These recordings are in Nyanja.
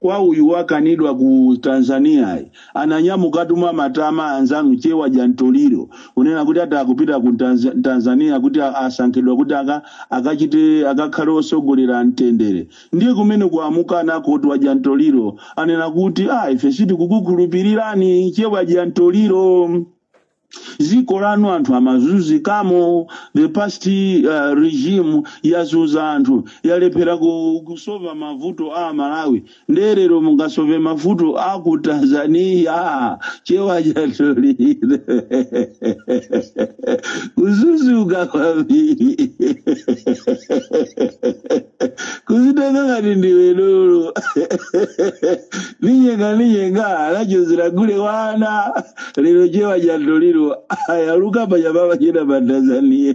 kwa uyu wakanidwa ku tanzania yi, ananyamukatu mwa matama anzanu chewa jantoliro kunena kuti ati akupita ku Tanz- tanzania kuti a- asankhidwa kuti aka- akachite akakhale osogolera mtendere ndiye kumene kumukana koti wa jantoliro anena kuti a ife sitikukukhulupirirani chewa jantoliro dziko lanu anthu amazunzikamo the past uh, regime yazunza anthu yalephera ku- kusova mavuto a malawi nderero mungasove mavuto a ku tanzania chewa jantoliro kususuka kwambiri kuzitenga ngati ndiwe dolo ninyenga ninyenga anachozera gule wana lero chewa jantoliro ayaluka panyama pachena pa tanzania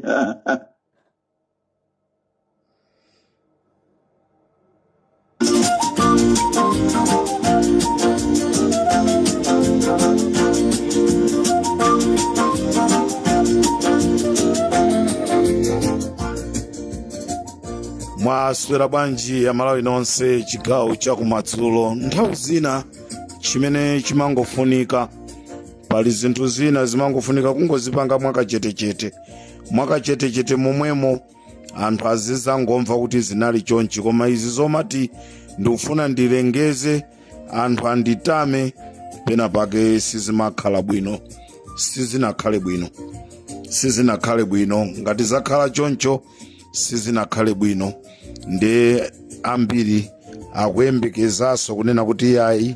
mwaswera bwanji amalawi nonse chigawo chakumadzulo nthawi zina chimene chimangofunika pali zinthu zina zimangofunika kungozipanga mwakachetechete mwakachetechete momwemo anthu azizangomva kuti zinali chonchi koma izi zomati ndikufuna ndilengeze anthu anditame pena pake sizimakhala bwino sizinakhale bwino sizinakhale bwino ngati zakhala choncho sizinakhale bwino nde ambiri akuyembekezaso kunena kuti yayi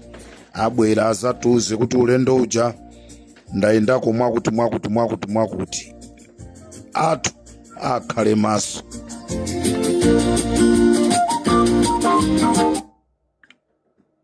abwera azatiuze kuti ulendo uja ndayendako mwakuti mwakuti mwakuti mwakuti anthu akhale maso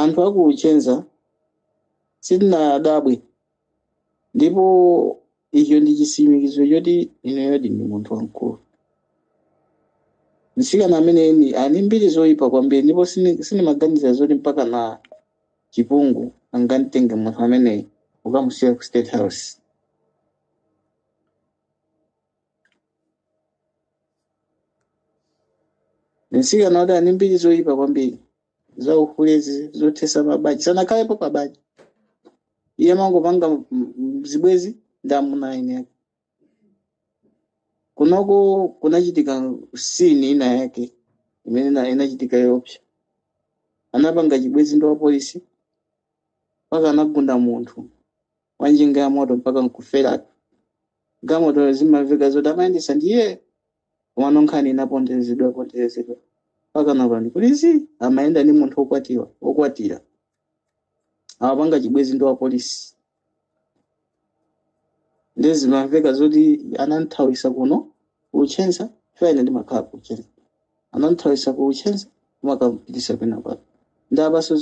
Anthu a ku Luchenza sitinadabwe ndipo icho ndi chitsimikiziro choti inuyo ndi munthu wamkulu. Mtsikana ameneyu ali ndi mbiri zoyipa kwambiri ndipo sini- sinimaganiza zoti mpaka na chipungu angamtenge munthu ameneyi kukamusiya ku State House. Mtsikana uyu ali ndi mbiri zoyipa kwambiri za uhule zothesa mabanja sanakhalepo pabanja iye amangopanga m- m- zibwezi ndi amuna a eni ake kunoko kunachitika sini ina yake imene ina- inachitika yopsa anapanga chibwezi ndi wapolisi mpaka anagunda munthu wa njinga ya moto mpaka nkuferatu wamoto zimamveka zoti amayendesa ndiye komano nkhani inaponderezedwa ponderezedwa mpaka na apolisi amayenda ndi munthu wokwatiwa wokwatira amapanga chibwenzi ndi wapolisi ndiye zimamveka zoti anamthawisa kuno kuchenza chifukwa ine ndimakhala kuchenza anamthawisa ku Nchenza kumakampitisa kwina kwake nde apanso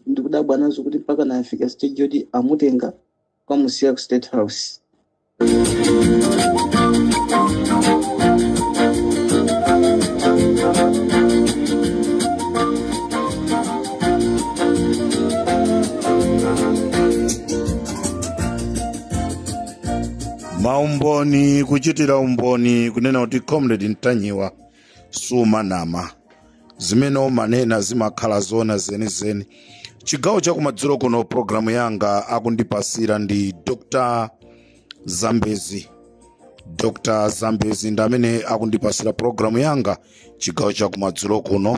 ndikudabwa nazo kuti mpaka yafika stage yoti amutenga kukamusiya ku state house maumboni kuchitira umboni kunena kuti comrade ntanyiwa sumanama zimene mumanena zimakhala zona zenizeni chigawo chakumadzulo kuno programu yanga akundipasira ndi dr zambezi dr zambezi ndi amene akundipasira programu yanga chigawo chakumadzulo kuno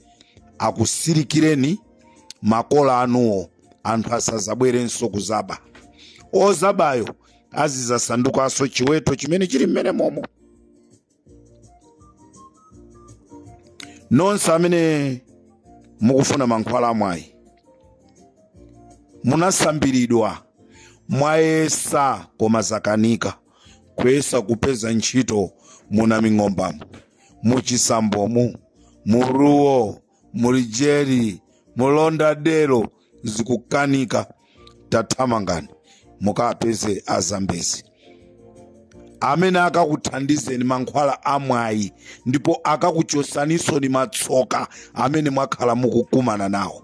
akusirikireni makola anuwo anthu asazabwerenso kuzaba ozabayo azizasandukanso chiweto chimene chili mmene momo nonse amene mukufuna mankhwala amwayi munasambiridwa mwayesa koma zakanika kuyesa kupeza ntchito muna ming'ombamo mu Chisambomu mu Ruo mu Lujeri mu Lauderdale zikukanika tathamangani mukapeze azambezi amene akakuthandizeni mankhwala amwayi ndipo akakuchosanisoni matsoka amene mwakhala mukukumana nawo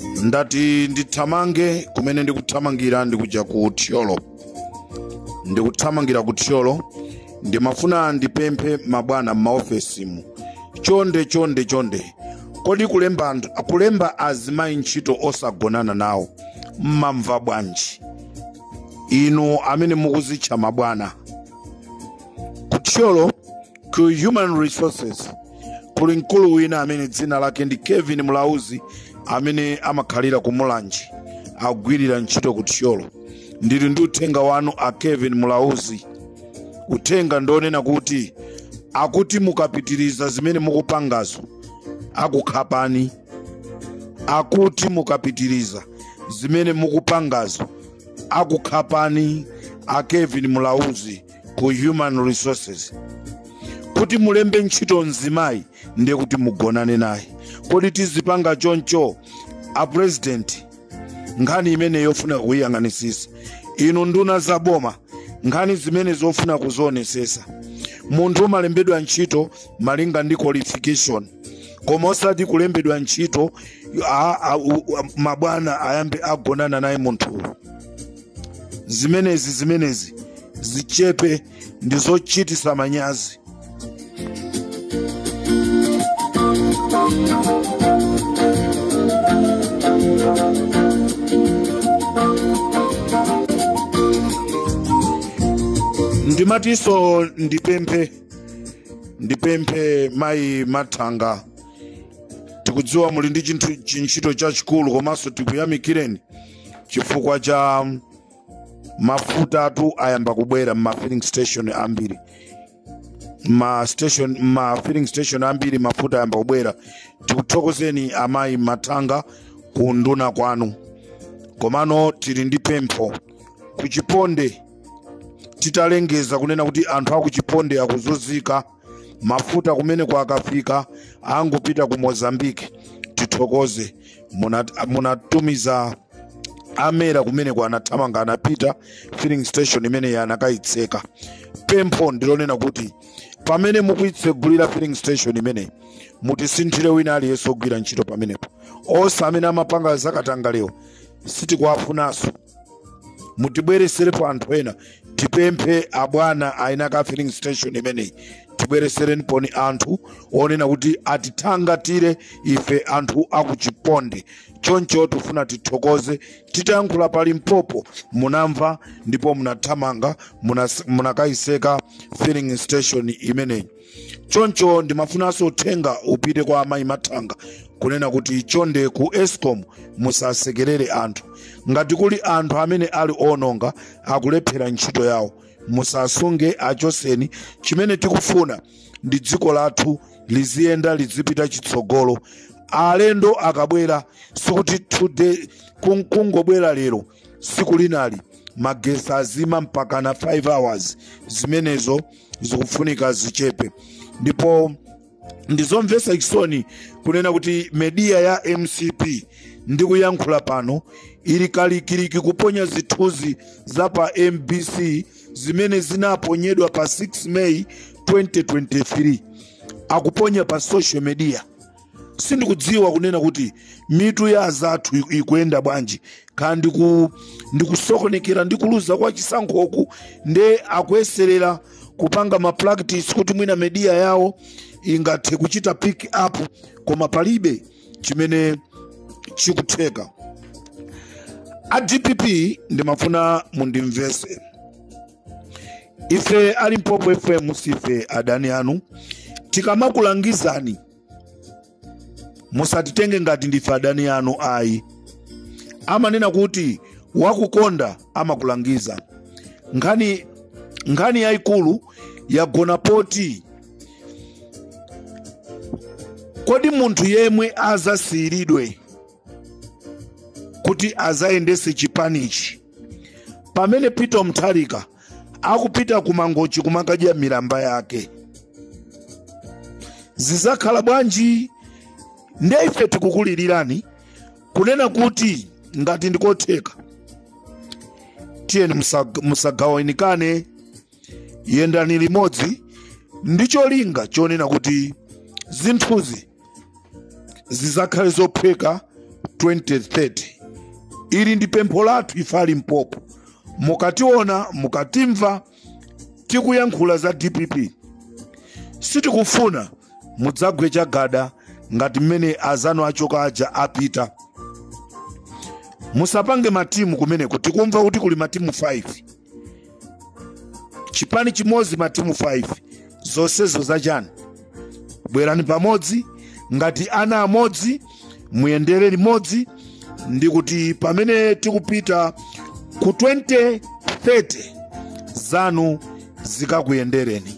ndati ndithamange kumene ndikuthamangira ndikuja ku thyolo ndikuthamangira ku thyolo ndimafuna ndipemphe mabwana m'maofesimu chonde chonde chonde kodi kulemba kulemba azimayi ntchito osagonana nawo mmamva bwanji inu amene mukuzitcha mabwana ku thyolo ku human resources kuli mkulu wina amene dzina lake ndi kevin mulauzi amene amakhalira ku mulanje agwirira ntchito ku thyolo ndili ndi uthenga wanu a kevin mulauzi uthenga ndionena kuti akuti mukapitiriza zimene mukupangazo akukhapani akuti mukapitiriza zimene mukupangazo akukhapani a kevin mulauzi ku human resources kuti mulembe ntchito mzimayi ndiye kuti mugonane naye kodi tizipanga choncho a president nkhani imeneyi yofunika kuyiyang'anisisa inu nduna za boma nkhani zimenezi zofuna kuzionesesa munthu umalembedwa ntchito malinga ndi qualification koma osati kulembedwa ntchito a- a- u- a- mabwana ayambe agonana naye munthuyo zimenezi zimenezi zichepe ndi zochitisa manyazi ndimatinso ndipemphe ndipemphe mayi mathanga tikudziwa muli ndi chintchi- chintchito chachikulu komanso tikuyamikireni chifukwa cha mafutatu ayamba kubwera mma filling station ambiri ma station ma filling station ambiri mafuta ayamba kubwera tikuthokozeni amayi mathanga ku unduna kwanu komano tili ndi pempho kuchiponde titalengeza kunena kuti anthu akuchiponde akuzunzika mafuta kumeneku akafika angopita ku mozambique tithokoze Munat- munatumiza a mera kumeneku anathamanga anapita filling station imeneyi anakayitseka pempho ndilonena kuti pamene mukuyitsegulira filling station imeneyi mutisinthire wina aliyense ogwira ntchito pamenepo onse amene amapanga zakatangalewo sitikuwafunanso mutibwereserepo anthu ena tipemphe abwana aina ake filling station imeneyi tibweresereniponi anthu ena kuti atithangatire ife anthu akuchiponde choncho tifuna tithokoze titayankhula pa limpopo munamva ndipo munathamanga munas- munakayiseka filling station imeneyi choncho ndimafunanso uthenga upite kwa amayi mathanga kunena kuti chonde ku escom musasekerere anthu ngati kuli anthu amene ali ononga akulephera ntchito yawo musasunge achoseni chimene tikufuna ndi dziko lathu liziyenda lizipita chitsogolo alendo akabwera sikuti today kung- kungobwera lero tsiku linali magesi azima mpaka na 5 hours zimenezo zikufunika zichepe ndipo ndizomvetsa chisoni kunena kuti media ya mcp ndikuyankhula pano ili kalikiliki kuponya zithunzi za pa mbc zimene zinaponyedwa pa 6 may 2023 akuponya pa social media sindikudziwa kunena kuti mitu ya azathu ikuyenda bwanji kaya ndi kusokonekera ndi kuluza kwa chisankhoku nde akuyeserera kupanga ma practice kuti mwina media yawo ingathe kuchita pick up koma palibe chimene chikutheka a dpp ndimafuna mundimvese ife ali mpopo fm sife adani anu tikamakulangizani musatitenge ngati ndife adani anu ayi amanena kuti wakukonda amakulangiza nkhani yayikulu yagona poti kodi munthu yemwe azasiyiridwe kuti azayendese chipanichi pamene peter mutharika akupita ku mangochi kumakadya milamba yake zizakhala bwanji nde ife tikukulilirani kunena kuti ngati ndikotheka tiyeni musagawanikane yendani limodzi ndi cholinga chonena kuti zinthuzi zizakhale zophweka 2030 ili ndi pempho lathu ife ali mpopo mukationa mukatimva tikuyankhula za dpp sitikufuna mudzagwe chagada ngati mmene azanu achoka aja apita musapange matimu kumeneko tikumva kuti kuli matimu 5 chipani chimodzi matimu 5 zonsezo zachani bwerani pamodzi ngati ana amodzi muyendere limodzi ndi kuti pamene tikupita ku 2030 zanu zikakuyendereni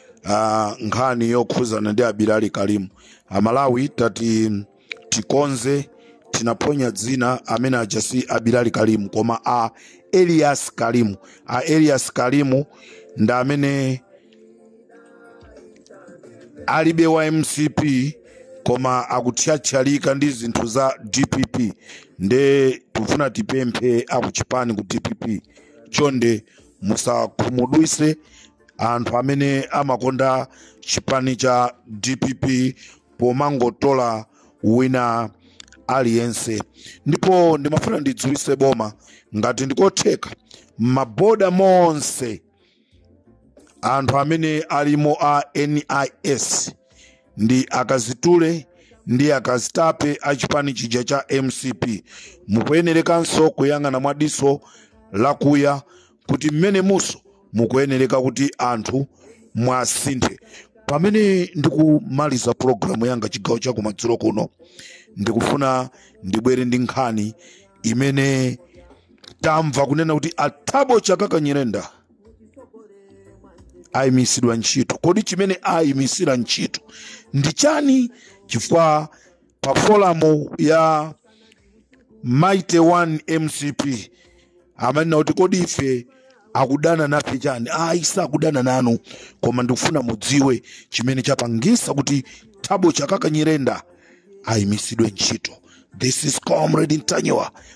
uh, nkhani yokhuzana ndi a bilali kalimu amalawi tati tikonze tinaphonya dzina amene aja si a bilali kalimu koma a elias kalimu a elias kalimu ndi amene ali wa mcp koma akuthyathyalika ndi zinthu za dpp nde tifuna tipemphe akuchipani ku dpp chonde musakhumudwise anthu amene amakonda chipani cha dpp pomangotola wina aliyense ndipo ndimafuna ndidziwise boma ngati ndikotheka maboda monse anthu amene alimo a nis ndi akazitule ndi akazitape a chipani chija cha mcp mukuyenerekanso kuyang'ana mwa diso lakuya kuti mmenemunso mukuyenereka kuti anthu mwasinthe pamene ndikumaliza pulogalamu yanga chigawo cha kumadzulo kuno ndikufuna ndibwere ndi nkhani imene tamva kunena kuti a Thabo Chakaka Nyirenda ayimisidwa ntchito kodi chimene ayimisira ntchito ndi chani chifukwa pa forum ya mighty one mcp amanena kuti kodi ife akudana nafe chani ayi sakudana nanu koma ndikufuna mudziwe chimene chapangisa kuti thabo chakaka nyirenda ayimisidwe ntchito this is comrade ntanyiwa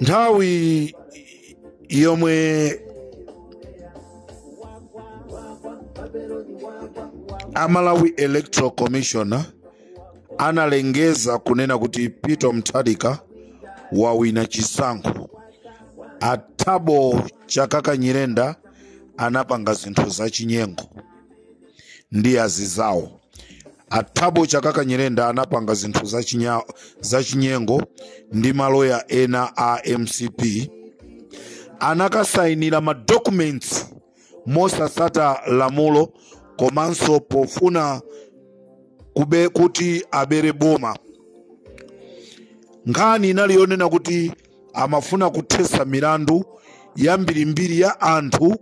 nthawi yomwe a Malawi Electoral Commission analengeza kunena kuti peter mutharika wawina chisankho a Thabo Chakaka nyirenda anapanga zinthu zachinyengo ndi azizawo a Thabo Chakaka nyirenda anapanga zinthu zachinyengo ndi maloya ena a mcp anakasayinira ma documents mosasata lamulo komanso pofuna kuti abere boma nkhani inali yonena kuti amafuna kuthetsa milandu yambirimbiri ya anthu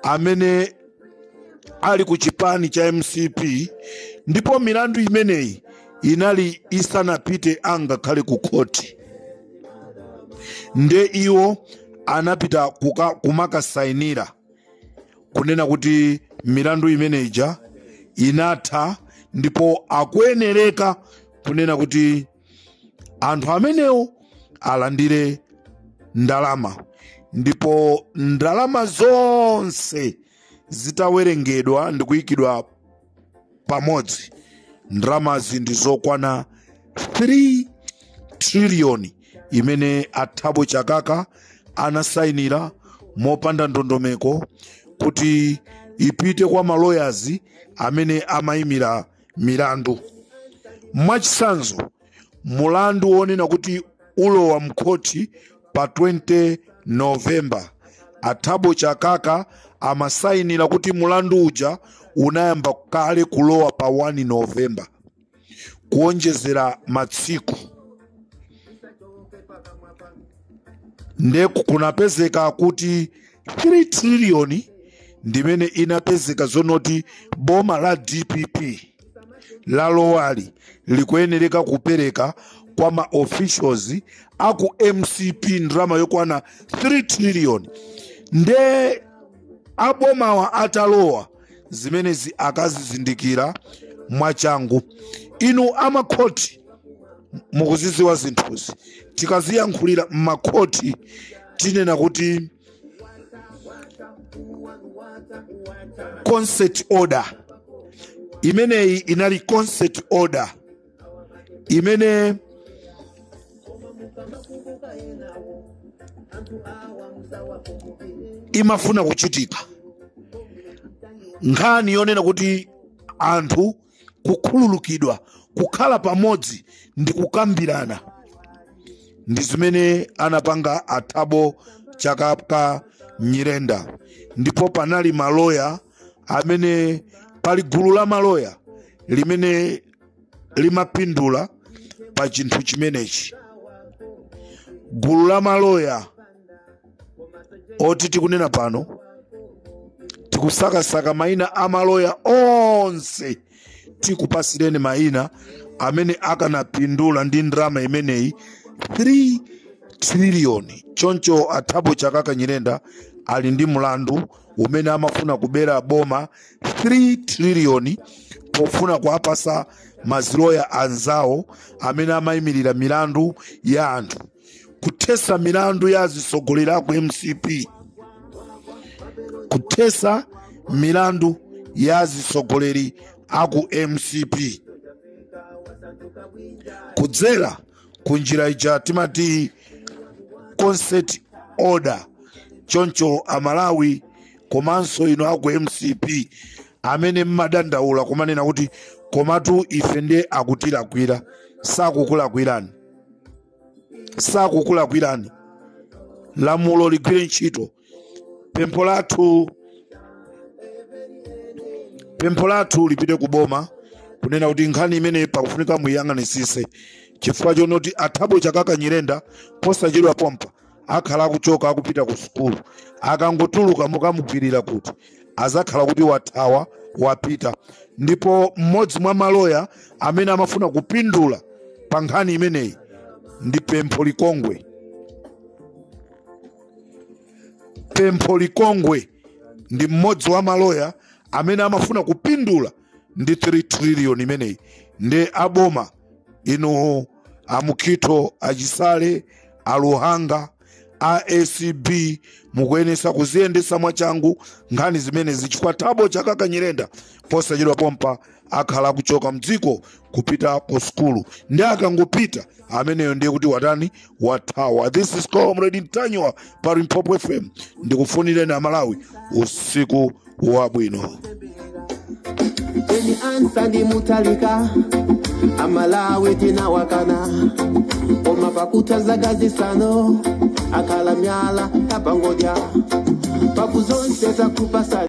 amene ali ku chipani cha mcp ndipo milandu imeneyi inali isanapite angakhale ku khoti nde iwo anapita kumakasainira kunena kuti milandu imene ija inatha ndipo akuyenereka kunena kuti anthu amenewo alandire ndalama ndipo ndalama zonse zitawerengedwa ndi kuyikidwa pamodzi ndalamazi ndi zokwana 3 triliyoni imene a Thabo Chakaka anasayinira mopanda ndondomeko kuti ipite kwa maloyazi amene amayimira milandu mwachitsanzo mulandu wonena kuti ulowa mkhoti pa 20 novemba a Thabo Chakaka amasayinira kuti mulandu uja unayamba kale kulowa pa 1 novemba kuonjezera matsiku nde kunapezeka kuti 3 trillion ndimene inapezeka zonoti boma la dpp lalowali likuyenereka kupereka kwa ma officials aku mcp ndalama yokwana 3 trillion nde abomawa atalowa zimenezi akazizindikira mwachangu inu amakhoti mukuzidziwa zinthuzi tikaziyankhulira m'makhoti tinena kuti consent order imeneyi inali consent order imene imafuna kuchitika nkhani yonena kuti anthu kukhululukidwa kukhala pamodzi ndi kukambirana ndi zimene anapanga athabo chakaka nyirenda ndipo panali maloya amene pali gulu la maloya limene limapindula pa chinthu chimenechi gulu la maloya oti tikunena pano tikusakasaka mayina a maloya onse tikupasireni mayina amene akanapindula ndi ndalama imeneyi 3 triliyoni choncho athabo chakaka nyirenda ali ndi mlandu umene amafuna kubera boma 3 triliyoni pofuna kuwapasa maziloya anzawo amene amayimirira milandu ya anthu kuthesa milandu ya azitsogoleri aku mcp kuthesa milandu ya azitsogoleri aku mcp kudzera ku njira ija timati consent order choncho amalawi komanso inu aku mcp amene mmadandaula kumanena kuti komatu ife ndiye akutilakwira sakukulakwirani sakukulakwirani lamulo ligwire ntchito pempho lathu pempho lathu lipite ku boma kunena kuti nkhani imene pakufunika muiyang'anisise chifukwa chonoti athabo chakaka nyirenda posachedwa pompa akhala akuchoka akupita ku sukulu akangotuluka mukamugwirira kuti? azakhala kuti wathawa wapita ndipo mmodzi mwa maloya amene amafuna kupindula pa nkhani imeneyi ndi pempho likongwe pempho likongwe ndi mmodzi wa maloya amene amafuna kupindula ndi 3 trillion imeneyi ndi aboma inu amukhito achisale aluhanga a acb mukuyenesa kuziyendesa mwachangu nkhani zimenezi chifukwa thabo chakaka nyirenda posachedwa pompa akhala akuchoka mdziko kupita ku sukulu ndi akangopita ameneyo ndiye kuti watani wathawa this is comrade ntanyiwa pa limpopo fm ndikufunireni amalawi usiku wabwino Eni anzathu ndi mutharika amalawi tinawakana koma pakutha zaka zisano akhala mwala wapangodya mfundo zonse zakupasa